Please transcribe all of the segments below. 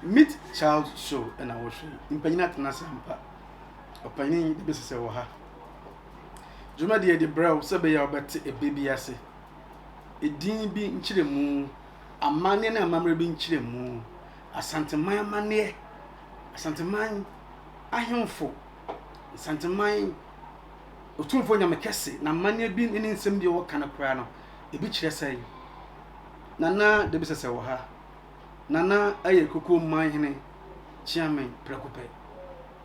Meet Child Show na wɔhwɛ yi. Mpanyin atena ase ampa. Ɔpanyin yi de bɛsi sɛ wɔ ha. Dwumadie de brɛ wo sɛ bɛyɛ a wobɛte ɛbɛ bi ase. Edin bi nkyerɛmu, amanneɛ ne amammerɛ bi nkyerɛmu, Asanteman amanneɛ, Asanteman ahemfo Nsanteman Otumfoɔ Nyame kɛse, na amanneɛ bi ne ne nsɛm bi a wɔka no koraa no, ebi kyerɛ sɛn? Nana Debisɛsɛ wɔ ha. Nana yɛ Koko man hene Kyeame prɛko pɛ.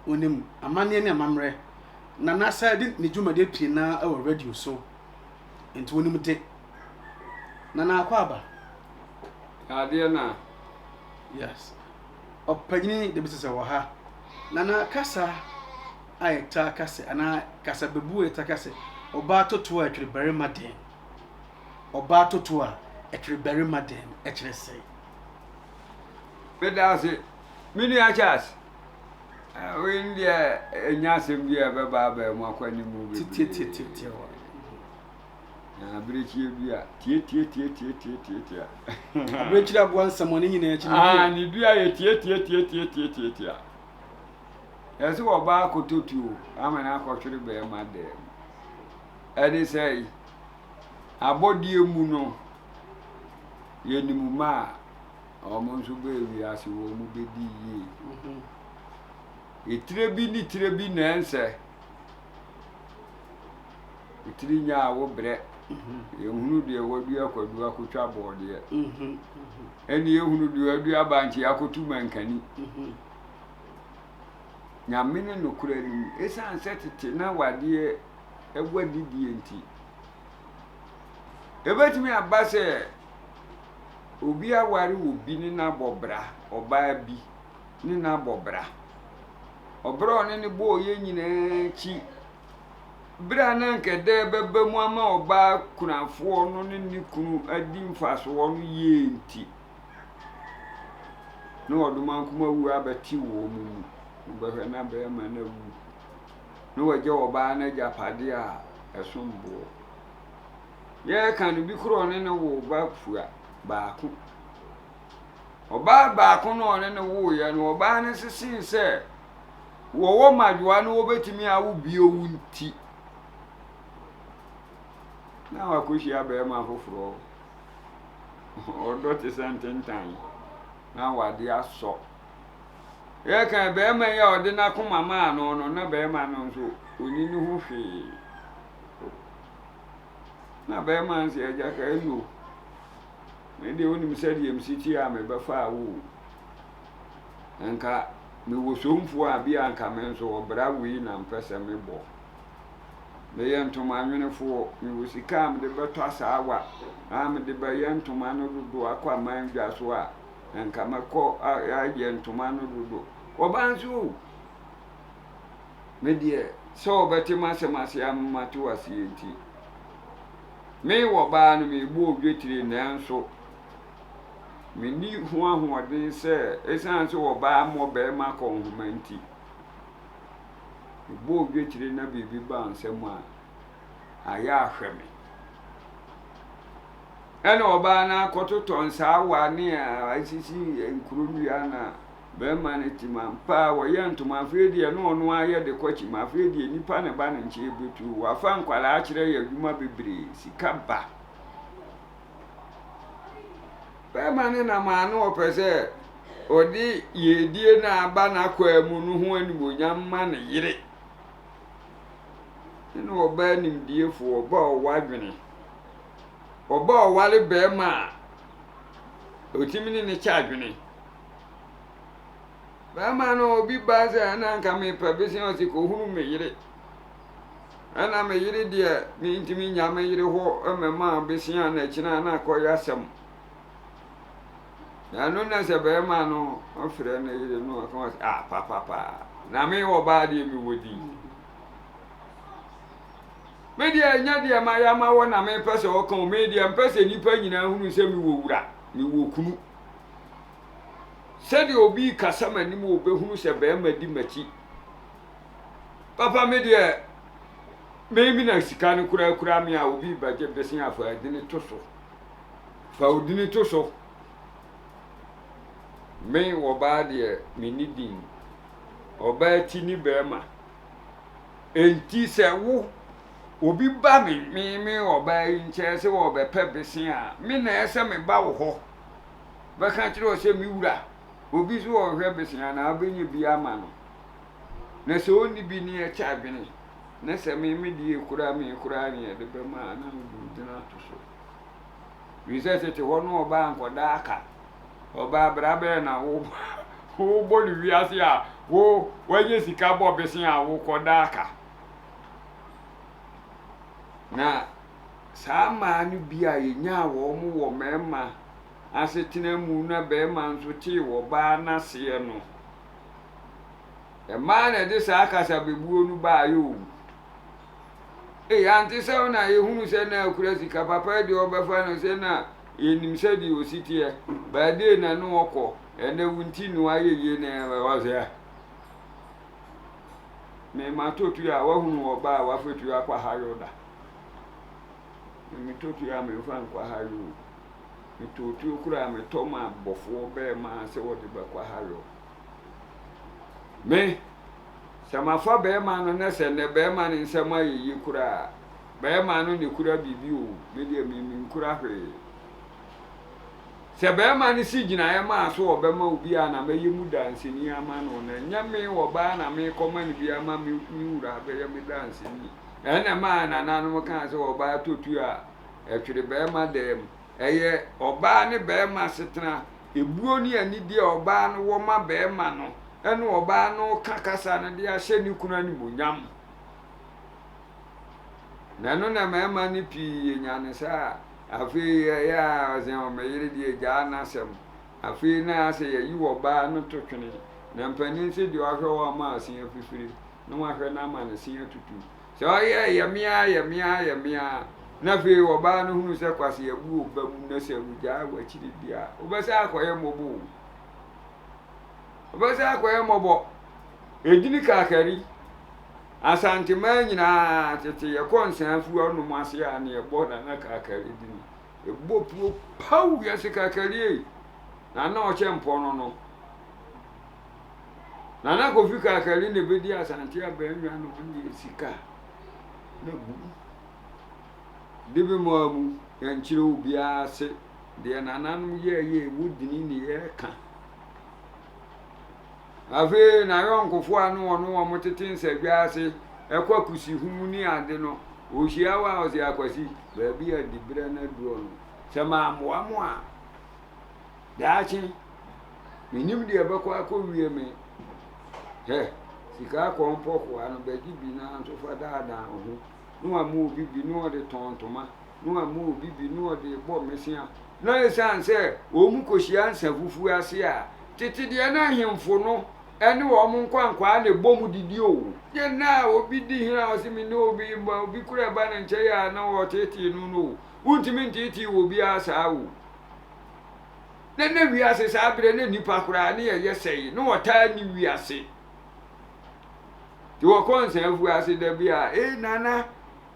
Onim amanneɛ ne amammerɛ. Nana sɛ de ne dwumadie pii na wɔ radio so, nti onim de. Nana Akwaaba. Adeɛ no a. Yes. Ɔpanyin David Sesɛ wɔ ha, na na kasa a yɛtaa ka sɛ anaa kasabebu a yɛtaa ka sɛ ɔbaa totoɔ a ɛtwere barima dɛn? Ɔbaa totoɔ a ɛtwere barima dɛn ɛkyerɛ sɛn? Meda ase. Me nua Charles, eh, wei no deɛ ɛnya asɛm bi a ɛbɛba abaa mu akɔ anim bebree. Tititititiwa. Na abirekyie bi a tiatiatiatiatiatiatia. Abirekyire aboa nsɛmɔne nyinaa akyi. Aa ne dua yɛ tiatiatiatiatiatiatia. Yɛ sɛ ɔbaa akɔtɔ tuo ama no akɔhwere bɛrima dɛm. Ɛde sɛ abɔdeɛ mu no yɛnim ma a wɔn nso bɛɛ wiase wɔn bɛdi yie. Etire bi ne tire bi na ɛnsɛ tiri nya a wobrɛ yɛhunu deɛ wadua kwadu akɔtwa bɔɔdeɛ ɛne yɛhunu deɛ wadua bankye akɔtu mankani nyame ne nokorɛ no mu ɛsiane sɛ tete na wadeɛ ɛwɔ adidie nti ɛbɛtumi aba sɛ obi aware obi ne n'abɔ bra ɔbaa bi ne no abɔ bra. Ɔbra a ɔne no bɔɔ yɛ nyinaa akyi, bere a na anka ɛda a ɛbɛba mu ama ɔbaa kunafoɔ no ne ne kunu adi mfasoɔ no yie nti, na ɔdomankoma wuo abɛte wɔn mu. Wobɛhwɛ na bɛrima no awu, na wagya ɔbaa no agyapadeɛ a ɛsom boɔ. Yɛreka no, bi koraa ɔne no woo ba fua baako. Ɔbaa baako no a ɔne no woeɛ no, ɔbaa no sesee sɛ wɔwɔ mmadwoa no wɔbɛtumi awo bio nti, na wakɔhyia barima foforɔ. Ɔdɔ te sɛ ntentan, na wade asɔ. Yɛka barima yi a ɔde n'akoma maa no no, na barima no nso ɔni ne ho hwee. Na barima no sɛ agya ka ɛno. Me deɛ wonim sɛdeɛ yɛmsi kyi a mebɛfaa wo o Nka me wɔ somfoɔ a bi a nka me nso ɔbra wei na mpɛ sɛ me bɔ Me yɛ ntoma nwenefoɔ me wɔ sika a mede bɛtɔ asaawa a mede bɛyɛ ntoma no dodo akɔ aman dwa so a nka mɛkɔ ayɛ ntoma no dodo Ɔbaa nso o Me deɛ sɛ ɔbɛte m'asɛm ase a mate wo aseɛ nti Me wɔ baa no merebɔ odwetire nanso menni ho ahoɔden sɛ ɛsiane sɛ wɔ baa mmɔ barima kɔ nhoma nti, mebɔ odwetire na biribi ba nsɛm a, ayɛ ahwɛ me. Ɛna ɔbaa no akɔtotɔ nsaawa ne a asisi nkuro nnua na Bɛrima no te mu ampa a, wɔyɛ ntoma afei deɛ na ɔno ara yɛ de kɔ kyim, afei deɛ nipa na ɛba ne nkyɛn bɛtu o, wafa nkwadaa akyerɛ yɛ adwuma bebree, sika ba. Bɛrima no nam a na ɔpɛ sɛ ɔde yiedie no a aba n'akwaa mu no ho animuonyam ma ne yere. Ɛna ɔbaa nimdiefoɔ, ɔbaa ɔwɔ adwene. Ɔbaa ɔware bɛrima a ɔtumi ne no kyɛ adwene. Bɛɛma no obi baa sɛ ɛna nka mepɛ bese ɔse kɔhunu me yere. Ɛna me yere deɛ mentimi nya me yere hɔ mɛma bese a na kyena na akɔyɛ asɛm. Na ɛno na sɛ bɛɛma no ɔfrɛ ne yere no ɔka wɔ sɛ ah papapaa na me wɔ baa deɛ me wɔ din. Me deɛ nya deɛ ma yɛ ama wɔ na mepɛ sɛ ɔka o me deɛ mpɛ sɛ nipa nyinaa hunu sɛ me wɔ wura me wɔ kunu. Sɛdeɛ obi rekasa m'anim o, bɛhunu sɛ barima di m'akyi. Papa me deɛ, me me na sika no koraa kura me a, obi rebɛgye bese a, fa adini to so. Fa odini to so. Me ɔbaa deɛ, menni din. Ɔbaa ti ne barima. Enti sɛ wo obi ba me me me ɔbaa yi nkyɛn sɛ ɔrebɛpɛ bese a, me na ɛsɛ sɛ meba wo hɔ. bɛka akyerɛ wo sɛ, 'Me wura, obi nso wɔ hɔ hwɛ bese anaa wobɛnya bi ama no, na sɛ ɔnni bi ne yɛkyɛ adwene, na sɛ me me deɛ kura me koraa ne yɛde bɛma a, na wode wo din ato so. Ɛfiri sɛ tete hɔ no ɔbaa nkɔda aka, ɔbaa bra bɛyɛ na wo wobɔ no wiase a, wo wanya sika bɔ bese a wokɔda aka. Na saa mmaa no bi a yɛnyaa wɔn wɔ mmarima asetena mu na barima nso tee wɔ ɔbaa no aseɛ no, mmaa na ɛde saa kasabebuo no baeɛ o. Ei, ante sɛ wo na yɛhunu sɛ na akura sika, papa yi deɛ ɔbɛfa no sɛ na yɛnim sɛdeɛ ɔsi teɛ, baa dee na ne ɔkɔ, ɛnɛ wo nti no ayɛ yie na ɔsɛ. Mema tɔtuo a wahunu ɔbaa a wafatuo akɔ ahayɔ da. Metotoe a memfa nkɔhare o, metootuo koraa a metɔ maa bɔfoɔ bɛɛma sɛ wɔde bɛkɔhare o. Me, sɛ mafa bɛɛma no na sɛ nnɛ bɛɛma no nsɛm ayɛ yie koraa a, bɛɛma no na ɛkura biribi o, me deɛ me menkura hwee. Sɛ bɛɛma no si gyinaeɛ maa so ɔbɛma obi a na mɛyɛ mu danseni ama no, na ɛnyɛ me ɔbaa na mekɔma no bi ama me wura abɛyɛ me danseni. Ɛna ɛmaa nananom kaa sɛ ɔbaa totuo a ɛtwere barima dan mu. Ɛyɛ ɔbaa ne barima asetena, ebuo ne anidie a ɔbaa no wɔ ma barima no ɛna ɔbaa no reka kasa no de ahyɛ ne kunu animuonyam. Na ɛno na ɛma ɛma no pii nya no saa a afei ɛyɛ a ɔsɛ me yere deɛ gyaa n'asɛm. Afei na asɛ yɛyi wɔ baa no to twene, na mpanin se deɛ ɔahwɛ hɔ ama asin afifiri na wɔahwɛ no ama ne se atutu. Sɛ ɔyɛ yɛ me ara yɛ me ara yɛ me ara na afei wɔ baa no hunu sɛ kwase abu wo ba mu na sɛ wogyaa wo akyiri deɛ a, wobɛsan akɔyɛ mmɔbɔ o. Wobɛsan akɔyɛ mmɔbɔ. Ɛdini kakari. Asanteman nyinaa tete yɛkɔ nsa afuwa nom ase a na yɛbɔ nana kakari dini. Ebobɔ puo paw wiase kakari ei, na na ɔkyɛ mpɔ no no. Nana Kofi Kakari na ebedi Asante Abɛnwa no ho yɛ sika na gu mu. De bi maa mu, yɛnkyerɛ obiara ase deɛ nananom yɛɛyɛ, ɛwɔ dini ne yɛɛka. Afei n'ayɔnkofo a nna ɔno wɔn tsetse nsadwa ase kɔ akosehuw ne adze no, ohyia hɔ a ɔse, Akwasi, beebi a diberɛ no aduɔ no, sɛ mammboa mo a, daakye mennim deɛ ɛbɛkɔ akɔwie me. Hɛ! Sika kɔn pɔkoa no, bɛgye bi na nso fa daadaa wo ho. na wama obi bi na ɔde tɔn ntoma, na wama obi bi na ɔde rebɔ mmesea. Na esiane sɛ wɔkohyia nsã fufuo ase a, tete deɛ na ahemfo no ne wɔn nkwankwaa na ɛbom didi o. Deɛ na obi di hene a ɔse mene obi mma, obi kura ɛba ne nkyɛn a na ɔtetee no no o, wontumi ntetee obiara saa o. Na na wiase saa berɛ na nnipa koraa ne yɛyɛ sɛe, na wɔtaa nni wiase. Nti wɔkɔɔ Nsaafua ase da bi a, Ei Nana,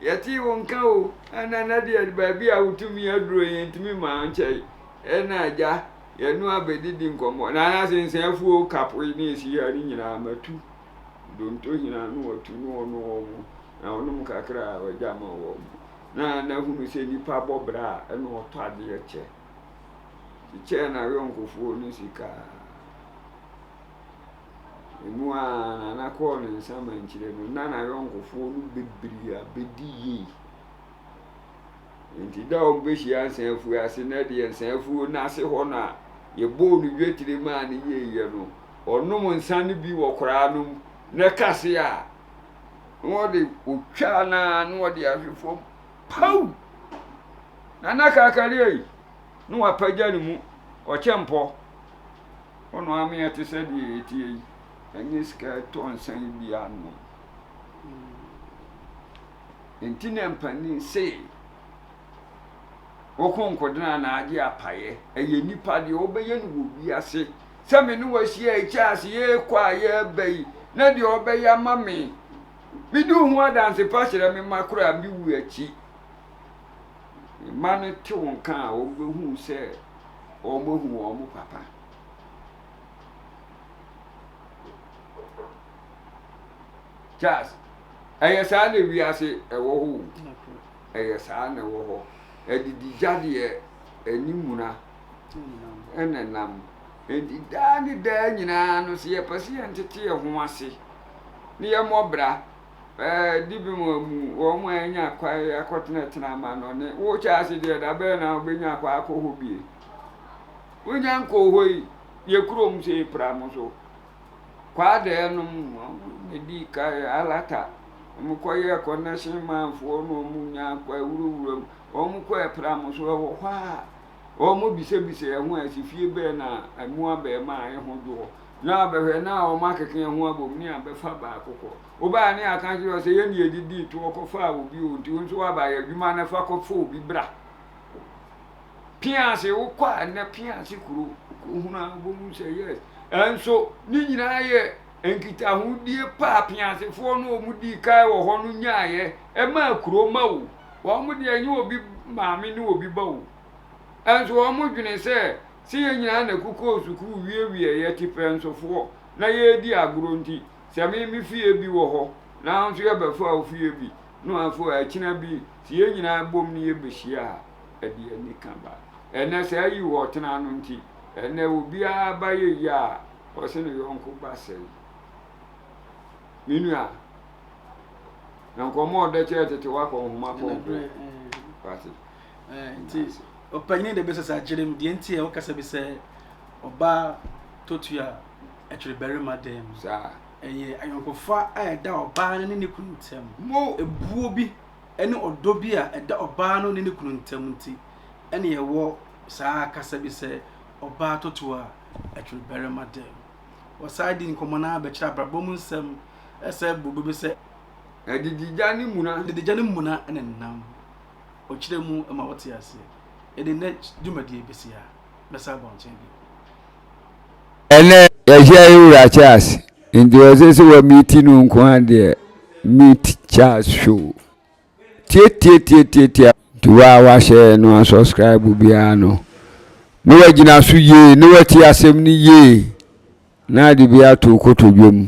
yɛtee wo nka o, a Nana deɛ baabi a wotumi aduro yɛntumi ma nkyɛe. Ɛna agya, yɛno abɛdidi nkɔmmɔ. Nana se Nsaafuo kapo yi ne ɛsi ha ne nyinaa matu. Donto hena no watu ne ɔno wɔn mo, na ɔnom kakra a ɔgya ma wɔn mo. Na Nana hunu sɛ nipa bɔ bra a ɛna ɔtɔ adeɛ kyɛ. Kyekyɛɛ n'ayɔnkofoɔ no sika. Eno ara na Nana kɔɔ ne nsa mankyerɛ mu na n'ayɔnkofoɔ no bebree abɛdi yei. Enti da a wɔbɛhyia nsaafuo ase no deɛ nsaafuo no ase hɔ no a yɛbɔɔ no dwetire maa no yeiɛ no, ɔnom nsa no bi wɔ koraa nom na ɛka se a, na ɔde ɔtwa no ara na ɔde ahwe fam paw! Nana Kakaria yi na wapagya ne mu ɔkyɛmpɔ. Ɔno ara meɛ te sɛ deɛ yɛteɛ yi, ɛnyɛ sika ɛtɔ nsa yi bi anom. Nti na mpanin sei, woko nkodena na agye apaeɛ, ɛyɛ nipa deɛ ɔbɛyɛ no wɔ wiase, sɛ me ne wahyia ɛkyɛ ase yɛkɔ a yɛba yi, na deɛ ɔbɛyɛ ama me, medi ho adanse pa kyerɛ me ma koraa mewu akyi, mma no tew nka a, wɔbehu sɛ wɔahu wɔn papa. Charles, ɛyɛ saa na wiase ɛwɔ hɔ o. Ɛyɛ saa na ɛwɔ hɔ. Adigya deɛ ɛne muna ɛna nam. Enti daa ne daa nyinaa no sɛ yɛpɛ sɛ yɛntete yɛn ho ase na yɛmmɔ bra Dibem a mu wɔn a anya kwan akɔtenatena amannɔne, wo Charles deɛ da bɛn na wobɛnya kwan akɔ hɔ bie? Wonya nkɔɔ hɔ yi, yɛ kurom sɛ yɛpira mo so. Kwaadɛɛ nom na di kan alata, wɔn kɔyɛɛ connection manfoɔ na wɔn nya kwan wurawura mu, wɔn kɔɔ ɛpira mo so, ɛwɔ hɔ a. Wɔbisabisaa ho a ese fie bɛn na ɛmu abɛn ma a eho dwo hɔ. Na abɛhwɛ na a wɔakeke eho abom ne abɛfa baako kɔ. Wobae ne yɛaka akyerɛ wo sɛ yɛn ne yɛde dii toɔ kɔfaa obi o, nti wo nso woaba yɛ adwuma no fa kɔfa obi bra. Piase wokɔ a nnɛ Piase kuro wokɔhunu a wobɛhu sɛ yes. Nso ne nyinaa yɛ nkitahodie pa a Piasefoɔ no a wɔdii kan wɔ hɔ no nyaaeɛ ɛmaa kuro ma o. Wɔn deɛ ɛnyɛ obi maame ne obi ba o, nso wɔn dwene sɛ sɛ yɛn nyinaa na ɛkokɔɔ sukuu wiewiee yɛ te pɛnsofoɔ na yɛredi agorɔ nti, sɛ me me fie bi wɔ hɔ na wo nso yɛbɛfa wo fie bi no afei akyina bi sɛ yɛn nyinaa bom ne yɛbɛhyia a ɛde anika ba. Ɛnnɛ saa yi wɔ ɔtena no nti, ɛnnɛ obiara ba yɛ yie a ɔse ne yɔnko ba sɛe. Me nua. nkɔmmɔ a ɔdɛ kyerɛ tete wakɔ nhoma kɔnkɔ pati nti ɔpanyin de bɛsɛ sɛ akyerɛ mu deɛ nti a wɔkasa bi sɛ ɔbaa totua ɛtwere barima dan mu saa ɛyɛ ayɔnkofa a ɛda ɔbaa no ne ne kunu ntam mo ebuo bi ɛne ɔdɔ bi a ɛda ɔbaa no ne ne kunu ntam nti ɛne ɛwɔ saa kasa bi sɛ ɔbaa totua ɛtwere barima dan mu Wɔsan dii nkɔmmɔ no ara bɛkyerɛ abrabɔ mu nsɛm sɛ bobe bi sɛ. Adididya ne muna. Adididya ne muna ne nam. Ɔkyerɛ mu ma wɔte ase. Yɛde nnɛ dwumadie bɛsi ha. Mɛsan aba wo nkyɛn bio. Ɛnnɛ yɛahyia yɛn wura Charles nti ɔse sɛ wɔ meeti no nko ara deɛ meet Charles show. tiatiatiatiatia nti wo a wahyɛ no a subscribe biara no na wagyina so yie na wati asɛm no yie na ade bi ato kotodwe mu